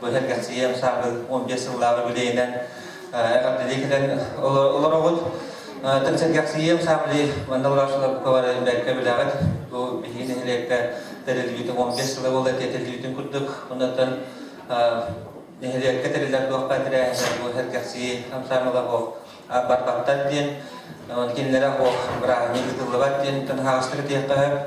Быһыарга сиэм саабын он биэс сыллааҕы билиэнэн эҕэрдэлии кэлэн олоробут. Тынсыргахсыйыам саамали манналаашыларбыкалары бэркэ билэҕит. Бу биһиги нэһилиэккэ тэрилибитин он биэс сыла буола тэтилибитин курдук. Оннотон нэһилиэккэ тэрилэр туохха тирээһиннэр бу сэргэхсийи хамсаамыла бох барбаттар диэн, кинилэрэ бох бырааһынньык ыытыллыбат диэн тынхаастары диэххэ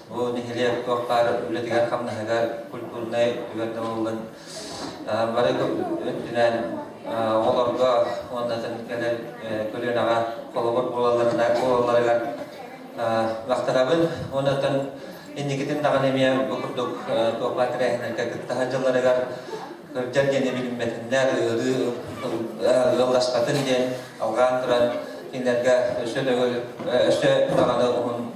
Бу нэһилиэк туохтар үлэтигэр-хамнаһыгар культурнай түгэн табыллын. Бары өттүнэн оҕолорго уонна кэлэр көлүөнэҕэ холобур буолалларыгар махтанабын. Оннотон инникитин даҕаны эмиэ бу курдук туохха тэрээһиннэргэ кыттаһар дьылларыгар кырдьар диэн билиммэтиннэр ыарыы ыалласпатын диэн алҕаан туран кинилэргэ өссө даҕаны уһун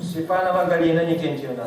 Степанова Галина Никентьевна.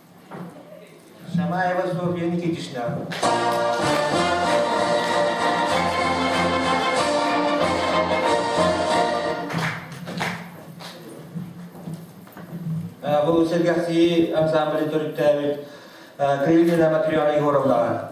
Шамаева Софья Никитична. Бұл сергәхсии ансамбль төрүттээбит Крыльина Матрена Егоровна.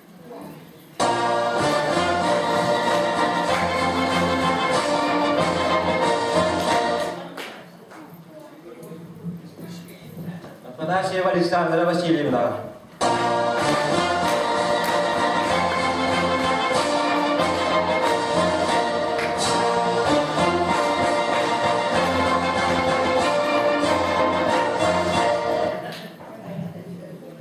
Афанасьева Александра Васильевна.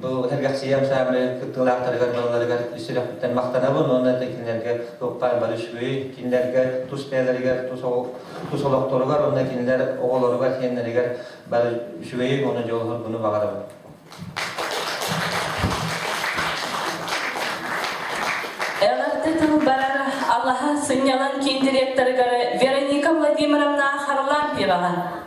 Бу сэргэхсийэм саамай кыттыылаахтарыгар балаларыгар сүрэхтэн махтанабын уонна это кинилэргэ Укпаан Барышвы, кинилэргэ тус бэйэлэригэр, тус, тус олохторугар уонна кинилэр оҕолоругар, сиэннэригэр бары үчүгэйик уонна дьоллоргуну баҕарабын. Эҕэрдэ тыл барара алаһа сынньалаҥ киндиректорыгар Вероника Владимировна Харлампьева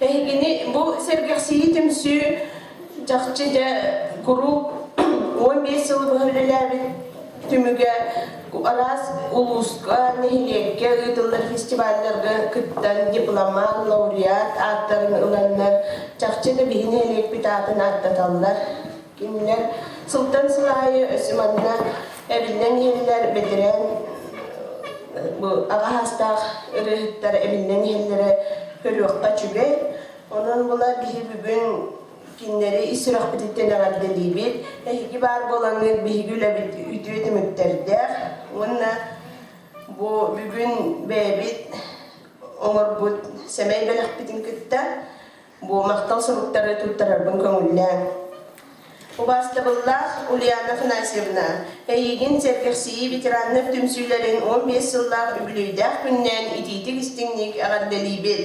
Эһигини бу сэргэхсийии түмсүү чахчы дьэ куруук уон биэс сыл быһа үлэлээбит түмүгэ араас улууска, нэһилиэккэ ыытыллар фестивалларга кыттан дипломат, лауреат ааттарын ыланнар, чахчы да биһи нэһилиэкпит аатын ааттаталлар. Кинилэр сылтан сыл аайы өссө манна эбиллэн иһэллэр бэтэрээн аҕаһаастаах ырыаһыттар эбиллэн иһэллэрэ көрүөххэ үчүгэй. Онон була биһи бүгүн кинилэри ис сүрэхпититтэн эҕэрдэлиибит. Эһиги баар буолаҥҥыт биһиги үлэбит үтүө түмүктэрдээх. Уонна бу бүгүн бэйэбит оҥорбут сэмэй бэлэхпитин кытта Бу махтал суруктары туттарарбын көҥүллээҥ. Убаастабыллаах Ульяна Афанасьевна, эйигин сэргэхсийии ветераннар түмсүүлэрин 15 сыллаах үбүлүөйдээх күннээн итиитик-истиҥник эҕэрдэлиибит!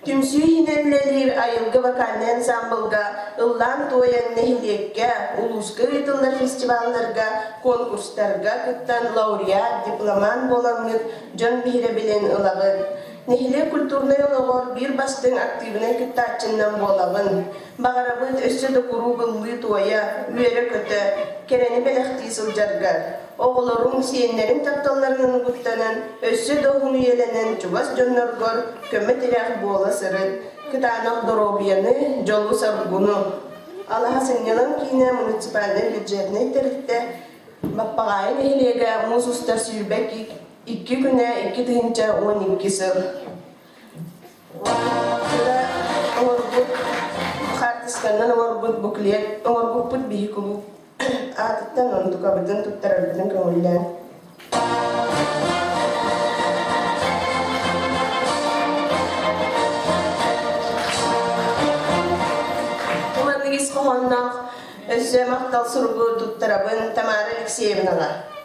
Түмсүү иһинэн үлэлиир Айылгы вокальнай ансаамбылга ыллаан-туойан нэһилиэккэ, улууска ыытыллар фестивалларга, конкурстарга кыттан лауреат, дипломант буоламмыт дьон биһирэбилин ылабыт. Нэһилиэк культурнай олоҕор биир бастыҥ актыыбынай кыттааччыннан буолабын. Баҕарабыт өссө да куруук ыллыы-туойа, үөрэ-көтө, кэрэни бэлэхтии сылдьарга, оҕолорум, сиэннэрим тапталларын угуттанан, өссө да уһун үйэлэнэн чугас дьонноргор көмө-тирэх буола сырыт, кытаанах доруобуйаны, дьолу-соргуну. Алаһа сынньалаҥ киинэ муниципальнай бюджетнай тэрилтэ Баппаҕаайы нэһилиэгэ муус устар сүүрбэ кик Икки күнэ, икки тыһыынча уон икки сыл оҥорбут хаартысканнан оҥорбут буклет оҥорбуппут биһикулу аатыттан онтукабытын туттарарбытын көҥүллээн маннык ис хоһоонноох өссө махтал суругу туттарабын Тамара Алексеевнаҕа.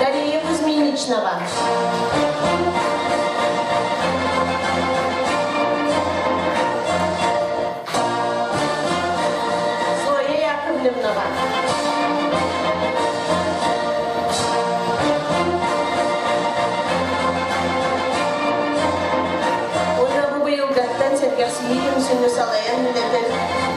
дария кузьминичнова зоя яковлевнова уонна бу быйылгаттан сэргэхсийии түмсүүнү салайан үлэтин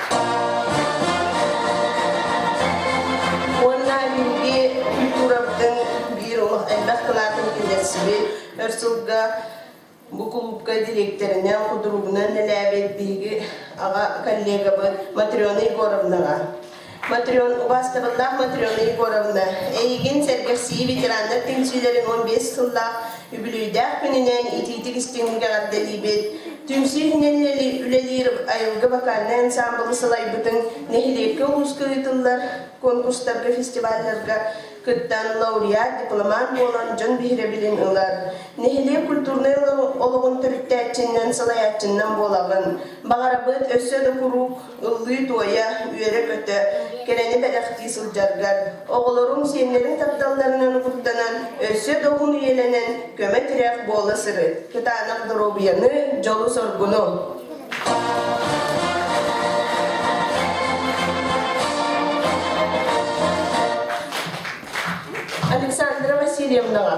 Уонна минги культурабытын биир элбэх кылаатын киллэрсиби өр сылга бу кулуупка директорынан, кудурубунан нэлээбит биһиги аҕа коллегабыт Матрена Егоровнаға. Матрен, убастабыллаах Матрена Егоровна, эйигин сэргэхсии ветераннар түмсүүлэрин 15 сыллаах Үбүлүөйдээх күнүнэн итиитик истиҥник эҕэрдэлиибит! Түмсүү иһинэн үлэлиир айылгы вокальнай ансаамбылы сылайбытыҥ нэһилиэккэ улууска ыытыллар конкурстарга, фестивальларга кыттан лауреат, дипломант буолан дьон биһирэбилин ылар. Нэһилиэк культурнай олоҕун төрүттээччинэн, салайааччыннан буолаҕын. Баҕарабыт өссө да куруук ыллыы-туойа, үөрэ-көтө, кэрэни бэлэхтии сылдьаргар, оҕолорун, сиэннэрин тапталларынан угуттанан, өссө да уһун үйэлэнэн көмө-тирэх буола сырыт, кытаанах доруобуйаны, дьолу-соргуну! Александра Васильевнаҕа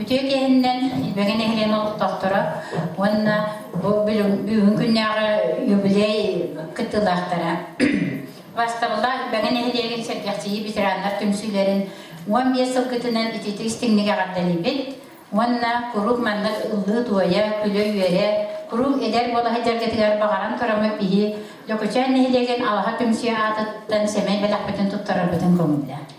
Үтүө киэһиннэн Илбэги нэһилиэнэ олохтоохторо уонна бу бүгүн күннээҕи юбилей кыттыылаахтара Бастабыла Илбэги нэһилиэгин сэргэхсийии ветераннар түмсүүлэрин уон биэс сылгытынан ититик истиҥник эҕэрдэлиибит уонна куруук маннык ыллыы туойа, күлэ-үөрэ, куруук эдэр буола сылдьаргытыгар баҕаран көрөмө киһи Лөкөчөөн нэһилиэгин алаһа түмсүү аатыттан сэмэй бэлэхпитин туттарарбытын көҥүллэ.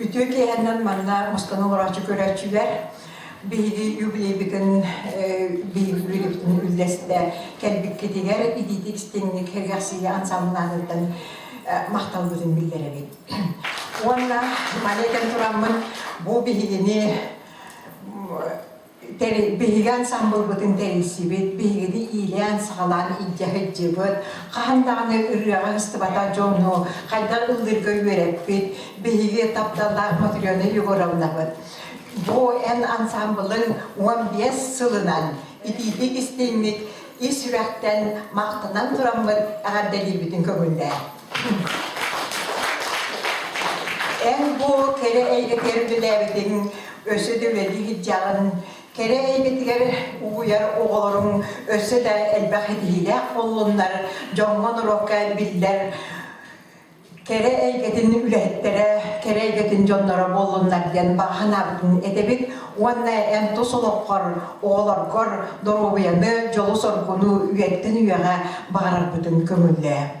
Үтүө киэһэннэн манна мустаны олороочу көрөөччүлэр биһиги юбилейбитин биһиги үлэбитин үллэстэ кэлбиккитигэр итиитик истиҥник эргэхсийэ ансамбыланыттан махталбытын биллэрэбит. Уонна манекэн тураммын бу биһигини биһигэн самбылбытын тэрийсибит, биһигини иилээн-саҕалаан илдьэ сылдьыбыт, хаһан даҕаны ырыаҕа ыстыбата дьону хайдах ыллыырга үөрэппит, биһиги тапталлаах Матрена Егоровнабыт. Бу эн ансамблын он бес сылынан итиитик-истиҥник ис сүрэхтэн махтанан тураммыт эҕэрдэлиибитин көҥүллээ. Эн-бу кэрэ эйгэтигэр үлэлээбитиҥ, өссө да үлэлии сылдьаҕын. Кэрэ эйгэтигэр угуйар оҕолоруҥ өссө да элбэх ситиһиилээх буоллуннар, дьоҥҥо-норуокка биллэр кэрэ эйгэтин үлэһиттэрэ, кэрэ эйгэтин дьонноро буоллуннар диэн бааһынаабытын этэбит уонна эн тус олоххор, оҕолоргор доруобуйаны, дьолу-соргуну үйэттэн үйэҕэ баҕарарбытын көҥүллээ.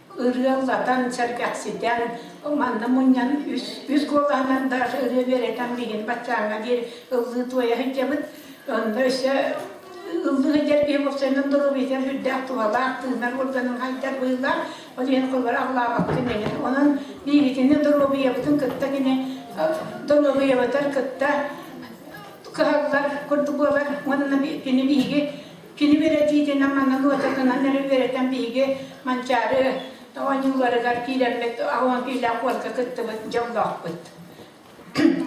ырыаллатан, сэргэхситэн, манна мунньан үс куолаһынан да ырыа үөрэтэн билигин баччааҥҥа диэри ыллыы туойа сылдьабыт. Онно өссө ыллыы сылдьар киһи бопсойунан доруобуйатыгар сүрдээх туһалаах тыынар уорганын хайдар быһыылаах. Ол иһин холлор аллаабаккын эҥэр. Онон биигитини доруобуйабытын кытта кини доруобуйабытар кытта кыһаллар курдук буолар. Уонна кини биһиги Кини бэрэсидьиэнэ аныгы ыччатынан эрэ үөрэтэн биһиги Манчаары оонньууларыгар киирэммит оонтуулаах уонка кыттыбыт дьоллоохпут.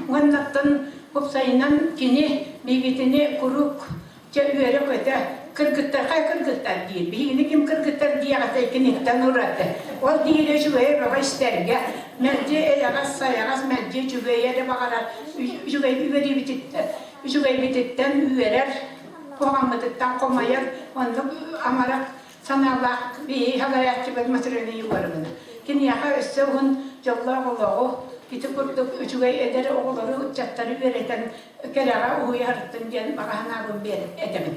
Уоннаттан уопсайынан кини биигитини куруук чэ үөрэ-көтө кыргыттар хай кыргыттар диир биһигини ким кыргыттар диэҕэтэй киниттэн ураты ол диири үчүгэй бөҕө истэргэ мэлдьи эйэҕэс сайаҕас мэлдьи үчүгэйи эрэ баҕарар үчүгэй үөрүүбүтүттэн үчүгэйбититтэн үөрэр Хомаммытыттан хомайар, оннук амарах санаалаах биһи халаyaаччыбыт матырыны уларымына. Киниэхэ өссө уһун дьоллоох олоҕу, ити курдук үчүгэй эдэр оҕолору, ыччаттары үөрэтэн кэрэҕэ уһуйарыттын диэн баҕа санаабын биэр этэбин.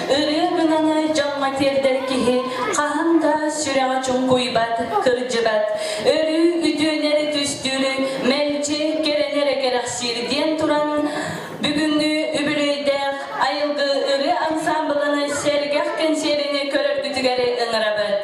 Ырыа гынаны дьоҥҥо тиэрдэр киһи хаһан да сүрэҕэ чуҥкуйбат, кырдьыбат. Өрүү үтүөнэри түстүүрү мэлдьи кэрэн эрэ кэрэхсиир диэн туран бүгүҥҥү үбүлүөйдээх айылгы ырыа ансаамбылын сэргэх кэнсиэrini көрөргүтүгэр ыҥырабыт.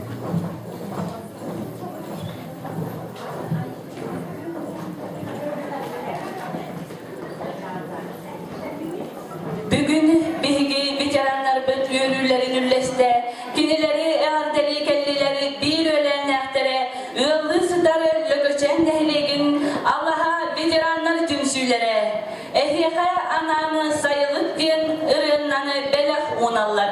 Бүгүн биһиги ветераннарбыт үөрүүлэрин үллэстэ, кинилэри эҕэрдэлии кэллилэри биир өлөөннээхтэрэ ыаллыы сытар Лөкөчөөн нэһилиэгин алаһа ветераннар түмсүүлэрэ эһиэхэ анаан сайылык диэн ырыыннаны бэлэх ууналлар.